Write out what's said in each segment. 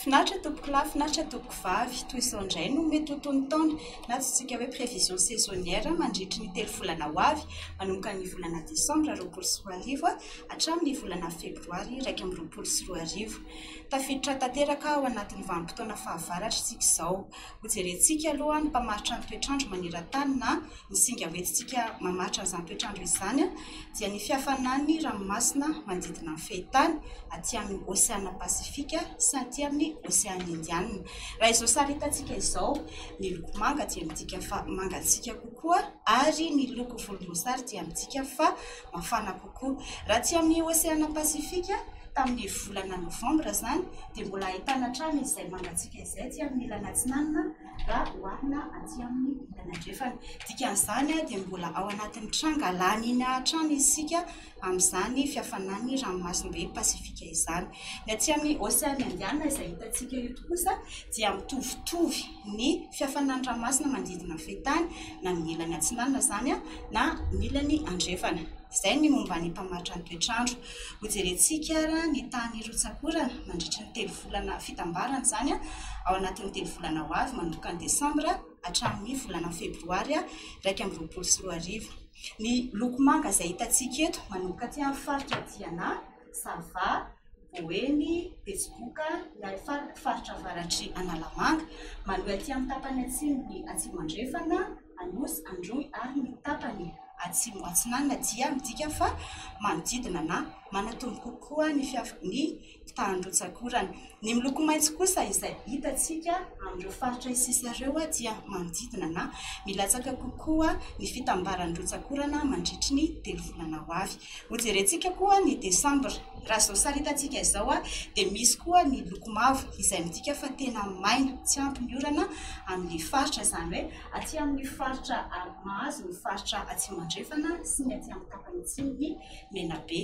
Finaritra tompoko lahy, finaritra tompoko vavy, toy izao indray no mety ho tony taona, na antsointsika hoe prévision saisonnière, mandritry ny telo volana ho avy, manomboka ny volana desambra roapolo sy roa arivo hatramin'ny volana febroary iraika amby roapolo sy roa arivo. Tafiditra tanteraka ao anatin'ny vanim-potoana fahavaratra isika izao. Hojerentsika aloha ny mpamaritra ny toetr'andro maneran-tany na ny singa hoentintsika mamaritra an'izany toetr'andro izany dia ny fihafanan'ny ranomasina manodidina ny fehintany aty amin'ny Oseana Pasifika sy aty amin'ny Oseana Indianina. Raha izao sary hitantsika izao, ny loko manga dia midika fa mangatsiaka kokoa ary ny loko volomboasary dia midika fa mafana kokoa. Raha aty amin'ny Oseana Pasifika, tamin'ny volana Novambra izany, dia mbola ahitana hatrany izay mangatsiaka izay aty amin'ny ilany atsinanana raha oharina aty amin'ny ilany andrefana. Dikan'izany dia mbola ao anatin'ny tranga La Nina hatrany isika amin'izany fihafanan'ny ranomasimbe Pasifika izany. Ny aty amin'ny Oseana Indiana izay hitantsika eto kosa dia mitovitovy. ny fiafanan'ny ranomasina manodidina ny fehin-tany na ny ilany atsinanana izany na ny ilany andrefana. Izay ny momba ny mpamaritra ny toetr'andro. Hojerentsika ary ny tany hirotsa-korana mandritra ny telo volana fitambarana izany ao anatin'ny telo volana ho avy manomboka ny desambra hatramin'ny volana febroary iraika amby roapolo sy roa arivo. Ny loko manga izay hitantsika eto manomboka aty amin'ny faritra Diana, Sava, Boeny, Betsiboka, Iarifaroko faritra avaratr'i Analamanga, manohy aty amin'ny tapany atsimon'i Atsimo-Andrefana, Anosy, Androy ary ny tapany atsimo atsinanana dia midika fa manodidina na manatombo kokoa ny fiavian'ny mpitahan-drotsakorana. Ny miloko maitso kosa izay hitantsika amin'ireo faritra isisa ireo dia manodidina na milatsaka kokoa ny fitambaran'ny rotsakorana mandritry ny telo volana ho avy. Hojerentsika koa ny desambra. Raha izao saritantsika izao dia misy koa ny loko mavo izay midika fa tena maina, tsy ampy ny orana amin'ilay faritra, izany hoe aty amin'ny faritra mahazo ny faritra atsimo andrefana sy ny aty amin'ny tapany atsimon'i Menabe.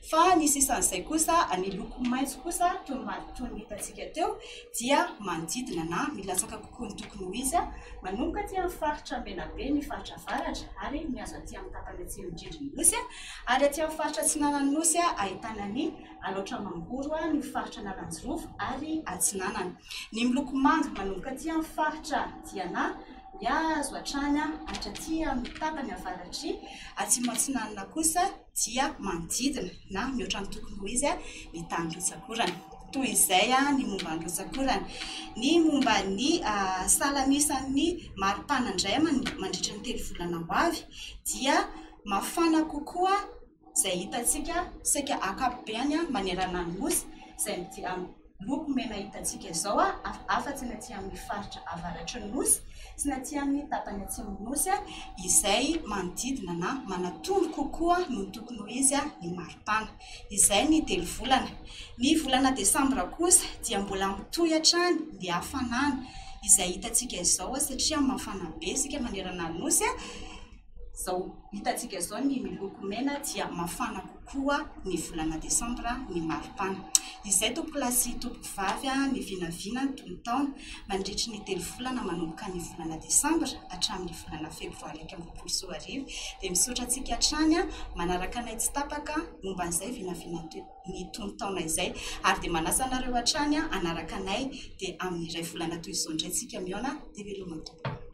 Fa ny sisan'izay kosa, ny loko maitso kosa toy ny hitantsika teo dia manodidina na milatsaka koa. Koldoky Moizy, manomboka aty amin'ny faritra Menabe, ny faritra avaratra, ary mihazo aty amin'ny tapany atsimo indrindran'ny nosy, ary aty amin'ny faritra atsinanan'ny nosy ahitana ny Alaotra Mangoro, ny faritra Analanjirofo ary Atsinanana. Ny miloko manga manomboka aty amin'ny faritra Diana mihazo hatrany hatraty amin'ny tapany avaratr'i Atsimo Atsinanana kosa, dia manodidina na mihoatra ny tokony ho izy ny tany rotsak'orana. Toy izay ny momba ny rotsak'orana. Ny momba ny salamisan'ny maripana indray mandritra ny telo volana ho avy dia mafana kokoa izay hitantsika saika ankapobeny manerana ny nosy izay Loko mena hitantsika izao afa-tsy ny aty amin'ny faritra avaratry ny nosy sy ny aty amin'ny tapany atsimon'ny nosy izay manodidina na manatony kokoa noho ny tokony ho izy ny maripana. Izay ny telo volana. Ny volana desambra kosa dia mbola mitohy hatrany ny hafanana izay hitantsika izao satria mafana be isika manerana ny nosy. Izao hitantsika izao ny miloko mena dia mafana kokoa ny volana desambra ny maripana. Izay tompoko lahy sy tompoko vavy ny vinavina ny tonon-taona mandritry ny telo volana manomboka ny volana desambra hatramin'ny volana febroary iraika amby roapolo sy roa arivo dia misaotra antsika hatrany manaraka anay tsy tapaka momba an'izay vinavina ny tonon-taona izay ary dia manasa anareo hatrany hanaraka anay dia amin'ny iray volana toy izao indray tsika mihaona dia veloma tompoko.